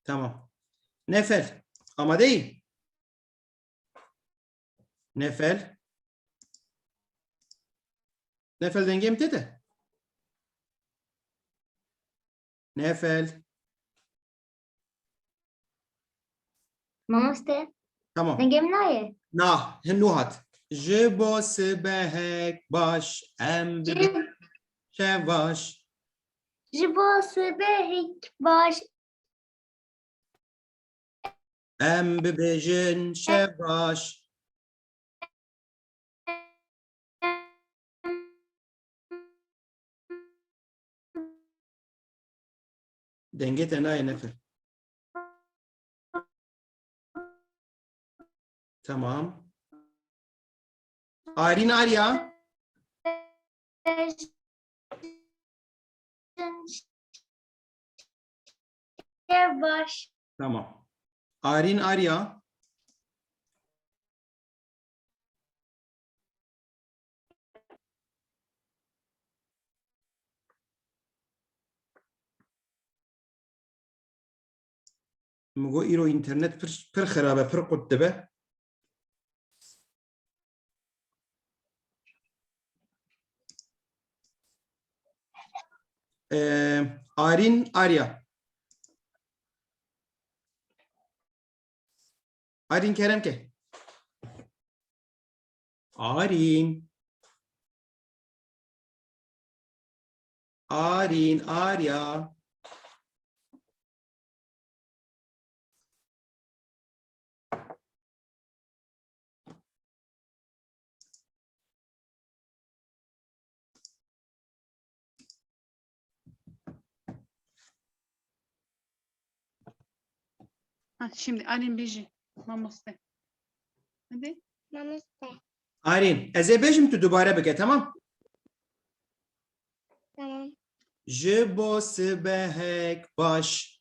Tamam. Nefel. Amadeyim. Nefel. Nefel denge mi tete? Nefel. Mamoste. Tamam. Denge mi naye? Na, hinu hat. Ji bo sibehek baş em bi şevaş. Ji bo sibehek baş Em bibêjin şev baş. Dengê te nayê nefir. Tamam. Ayrîn Arya. Baş. Tamam. Arin Arya. Mugo iro internet pir, pir xirabe, pir qut dibe. Ee, Arin Arya. Arin Kerem ke. Arin. Arin Arya. Ha, şimdi Arin biji. Mamoste. Hadi. Namaste. Arin, ez ê bêjim tu dubare bike, tamam? Tamam. Ji bo sibehek baş.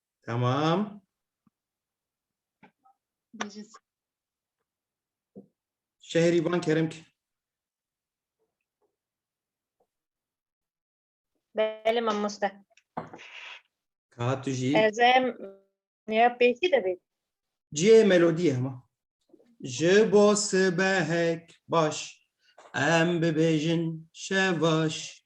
Tamam. Bejis. Şehri ban kerim ki. Belê mamoste. Ka tu jî. Ez em ya pêkî de bê. Cihê melodiyê hema. Ji bo sibehek baş. Em bibêjin şevaş.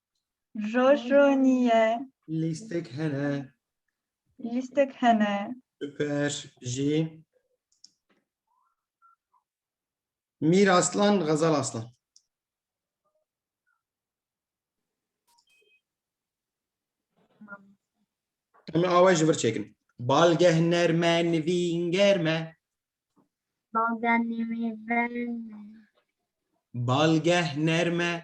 Roj ro niye. Lîstek hene. Lîstek hene. Süper. Jî. Mîr Aslan, Gazal Aslan. Em awa ji vir çekin. Balgeh nerme nivîn germe. Balgeh nerme. Balgeh nerme.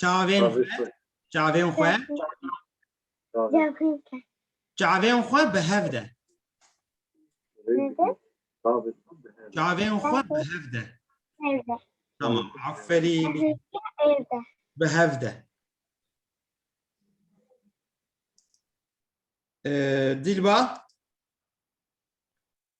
Çavên xwe, çavên xwe, çavên xwe bi hev de. Çavên xwe bi hev de. Tamam, aferîn. Bi hev de. Ee, Dilba,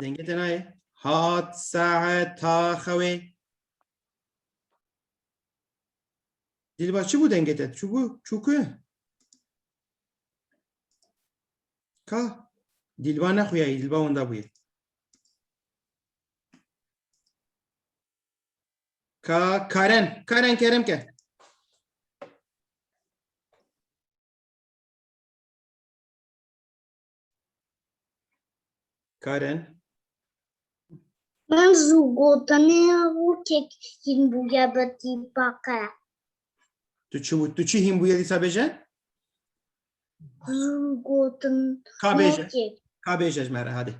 Dengê te nayê. Hat saeta xewê. Dilba çi bû dengê te? Çûbû? Çûku? Ka? Dilba nexuyayî, dilba wenda bûye. Ka Karen, Karen kerem ke. Karen. Ben zû gotinê rûkek hîn bûye bi tîpaqe. Tu çi wî- tu çi hîn bûye dîsa bêje? Zû gotin Ka bêje. rûkek. Ka bêje ji me re hadê.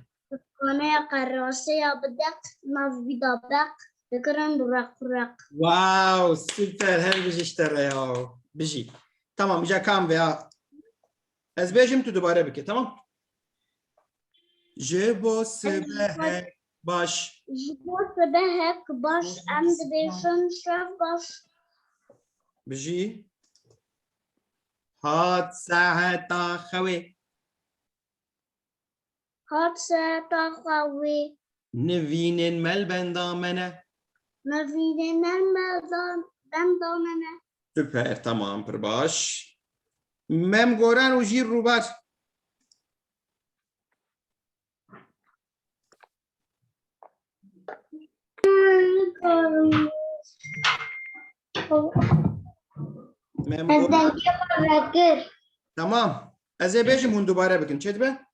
Kanaya qeraseya bideq nav wî da beq dikirin req req. Wow, süper. Her bijî işte reya. Bijî. Tamam, îca kam veya Ez bêjim tu dubare bike tamam. Ji bo sibehek baş. Ji bo sibehek baş em dibêjin şev baş. Bijî. Hat saeta xewê. Hat sereta xwe wê. Nivînên mel benda me ne. Nivînên mel benda me ne. Super, tamam, pir baş. Mem goran û jîr rûbar. Mem Ez goran. dengê xwe vekir. Tamam. Ez ê bêjim hûn dubare bikin. Çêdibe?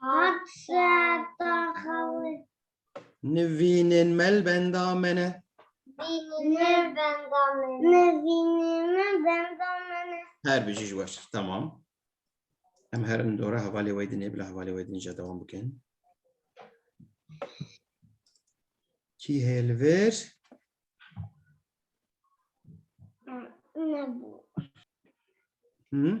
Hat saeta xewi. Nivînên me li benda me ne. Nivînê benda me ne. Nivînê me benda me ne. Her bijî ji weş. Tamam. Em her in dora hevalê wê dinê bila hevalê wê dinê ja devam bikin. Kî heye li vir? Nebû. Hı?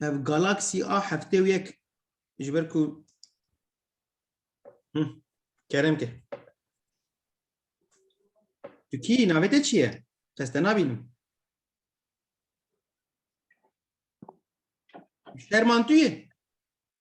Ev Galaxy A heftê û yek ji ber ku Hı, kerem kir. Tu kî navê te çi ye? Ez te nabînim. Şerman tu yê?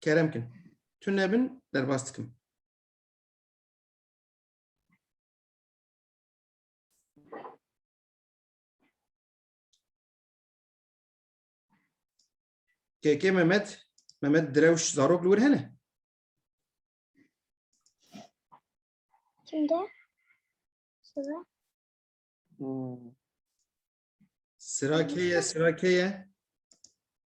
Kerem kin. Tu nebin derbas dikim. KK Mehmet, Mehmet Drewş Zarok Lur hene. Kimde? Sıra. Sıra keye, sıra keye.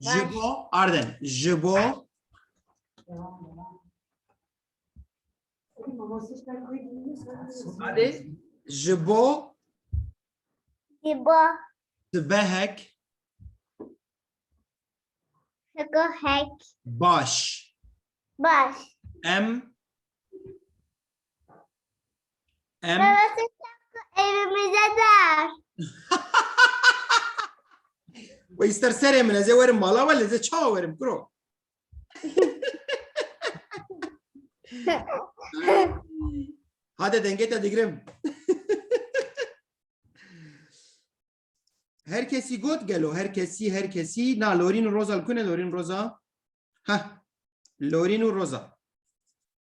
Ji bo arden ji bo Hadi. ji bo Diba sibehek heko hek baş baş em Em Evimize dar. Ve ister serê min ez ê werim mala we li zê çawa werim kuro. Hadi dengê te digirim. her kesî got gelo her kesî her kesî na lorîn û roza li ku ne lorîn roza? Heh lorîn û roza.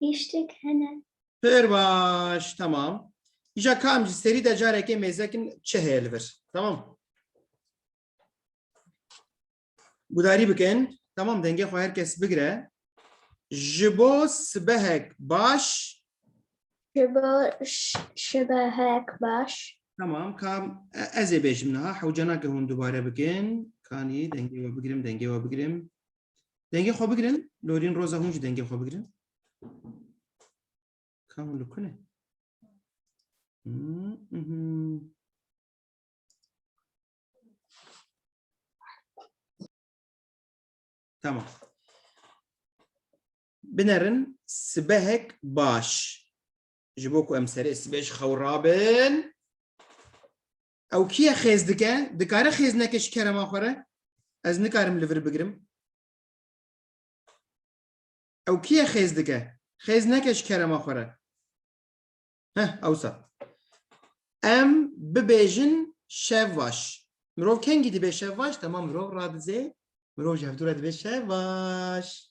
Hiştek hene. Pir baş, tamam. Îja kam ji serî de carekê mêzekin çi heye li vir. Tamam. Gudarî bikin. Tamam dengê xwe her kes bigire. Ji bo sibehek baş. Ji bo şibehek baş. Tamam kam e- ez ê bêjim niha hewcanake hûn dubare bikin. Kanî dengê we bigirim, dengê we bigirim. Dengê xwe bigirin, lorîn roza hûn jî dengê xwe bigirin. Ka hûn li ku ne? Hmm, mhm. Tamam. Binerin sibehek baş. Ji bo ku em serê sibê ji xew rabin. Ew kî ye xêz dike? Dikare xêz neke ji kerema xwe re? Ez nikarim li vir bigirim. Ew kî ye xêz dike? Xêz neke ji kerema xwe re. Heh, ewsa. Em bibêjin şevvaş. Mirov kengî dibe şevvaş, temam mirov radizê. Mirov ji hevdû re dibe şevvaş.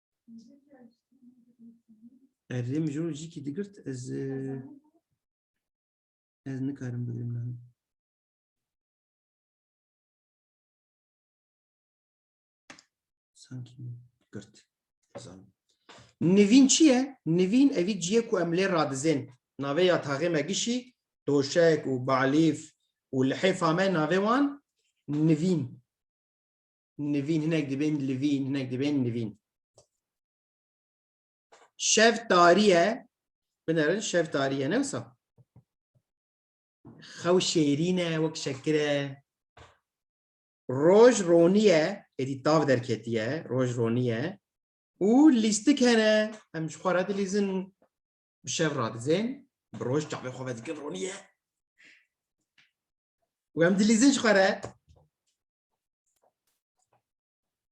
Erê mijro jî kî digirt ez ez nikarim bigirim niha. Sanki girt. Zan. Nivîn çi ye? Nivîn evî ciyê ku em lê radizên navê ya taxê me gişî doşek û balîf û lihêfa me navê wan nivîn. nivîn hinek dibên livîn hinek dibên nivîn. Şev tariye binerin şev tariye ne wisa. Xew şêrîne wek şekire. Roj roniye êdî tav derketiye roj roniye û lîstik hene em ji xwe re dilîzin bi şev radizên bi roj çavê xwe vedikin roniye. Wem dilîzin ji xwe re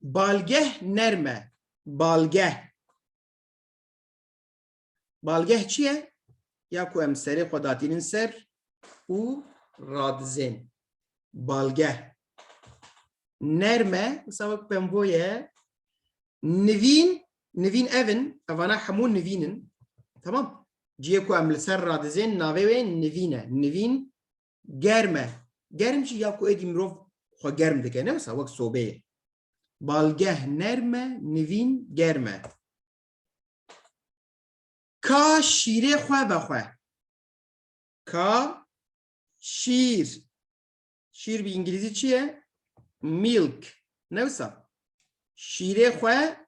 Balgeh nerm e. Balgeh. Balgeh çi ye? Ya ku em serê xwe datînin ser û radizên. Balgeh. Nerm e, wisa wek pembo ye. Nivîn, nivîn ev in, evana hemû nivîn in. Tamam. Cihê ku em li ser radizên navê wê nivîn e. Nivîn germ e. Germ jî ya ku êdî mirov xwe germ dike ne wisa wek sobeyê. Balgeh nerm e, nivîn germ e. Ka şîrê xwe ve xwe. Ka şîr. Şîr bi îngilîzî çi ye? Milk. Ne wisa? Şîrê xwe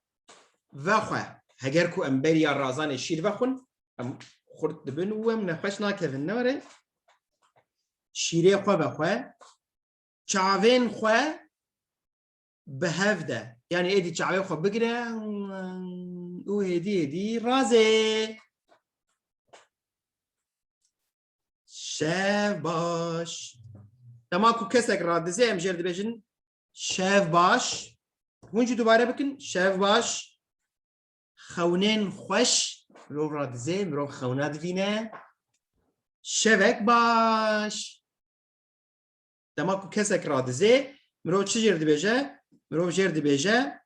ve xwe. Heger ku em beriya razanê şîr vexwin, Em xurt dibin û em nexweş nakevin nare. Şîrê xwe be xwe, çavên xwe bi hev de. Yani êdî çavê xwe bigire û hêdî hêdî razê. Şev baş. Dema ku kesek radizê em jêr dibêjin şev baş. Hûn jî dubare bikin şev baş. xewnên xweş mirov radizê, mirov xewna divîne. Şevek baş. Dema ku kesek radizê, mirov çi jêr dibêje? Mirov jêr dibêje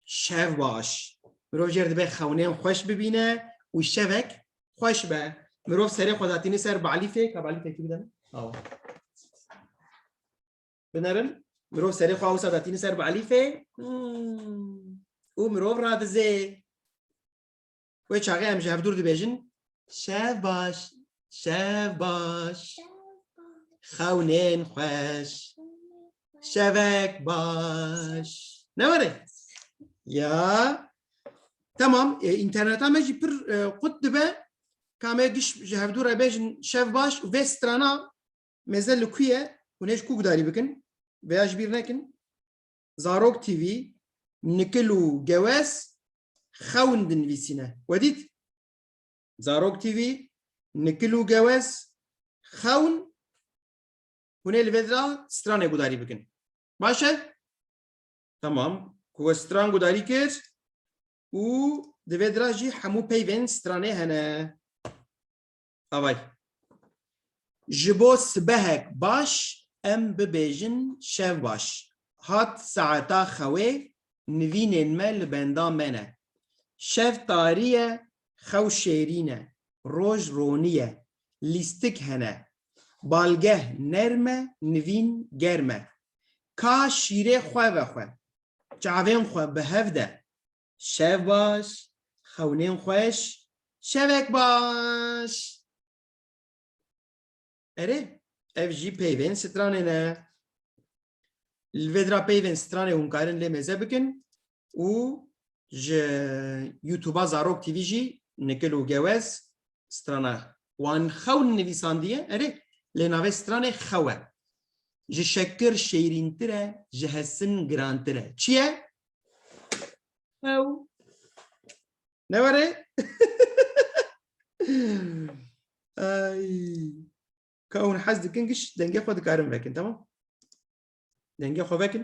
şev baş. Mirov jêr dibe xewnên xweş bibîne û şevek xweş be. Mirov serê xwe datîne ser balîfê, ka balîfekî bidem. Awa. binerin mirov serê xwe wisa datîne ser bi elîfê û mirov radizê wê çaxê em ji hevdûr dibêjin şev baş şev baş xewnên xweş şevek baş ne were ya tamam e, interneta me jî pir e, qut dibe kamê giş ji hevdû re bêjin şev baş û vê strana Mêze li ku ye? Hûn ê ji ku gudarî bikin? Vê ya ji bîr nekin. Zarok TV, Nikil û Gewez xewn dinivîsîne. We dît? Zarok TV, Nikil û Gewez xewn hûn ê li vê de stranê gudarî bikin. Baş e? Tamam. Ku we stran gudarî kir û di vê de jî hemû peyvên stranê hene. Avay. Ji bo sibehek baş em bibêjin şev baş. Hat saeta xewê, nivînên me li benda me ne. Şev tarî ye, xew şêrîn e, roj ronî ye, lîstik hene. Balgeh nerm e, nivîn germ e. Ka şîrê xwe ve xwe. Çavên xwe bi hev de. Şev baş, xewnên xweş, şevek baş. Erê, ev jî peyvên stranê ne. Li vê dira peyvên stranê hûn karin lê mêze bikin û ji YouTube'a Zarok TV jî nikil û gewez strana wan xewn nivîsandiye. Erê, lê navê stranê xew e. Ji şekir şêrîntir e, ji hesin girantir e. Çi ye? Ew. Ne were? Ay. Ka hûn hez dikin giş dengê xwe dikarin vekin tamam. Dengê xwe vekin.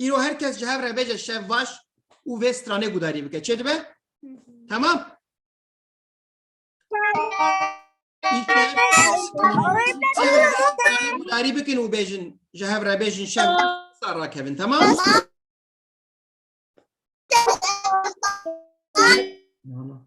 Îro her kes ji hev re bêje şevvaş û vê stranê gudarî bike. Çê dibe? Tamam. Gudarî bikin û bêjin ji hev re bêjin şev sa rakevin. Tamam. Tamam.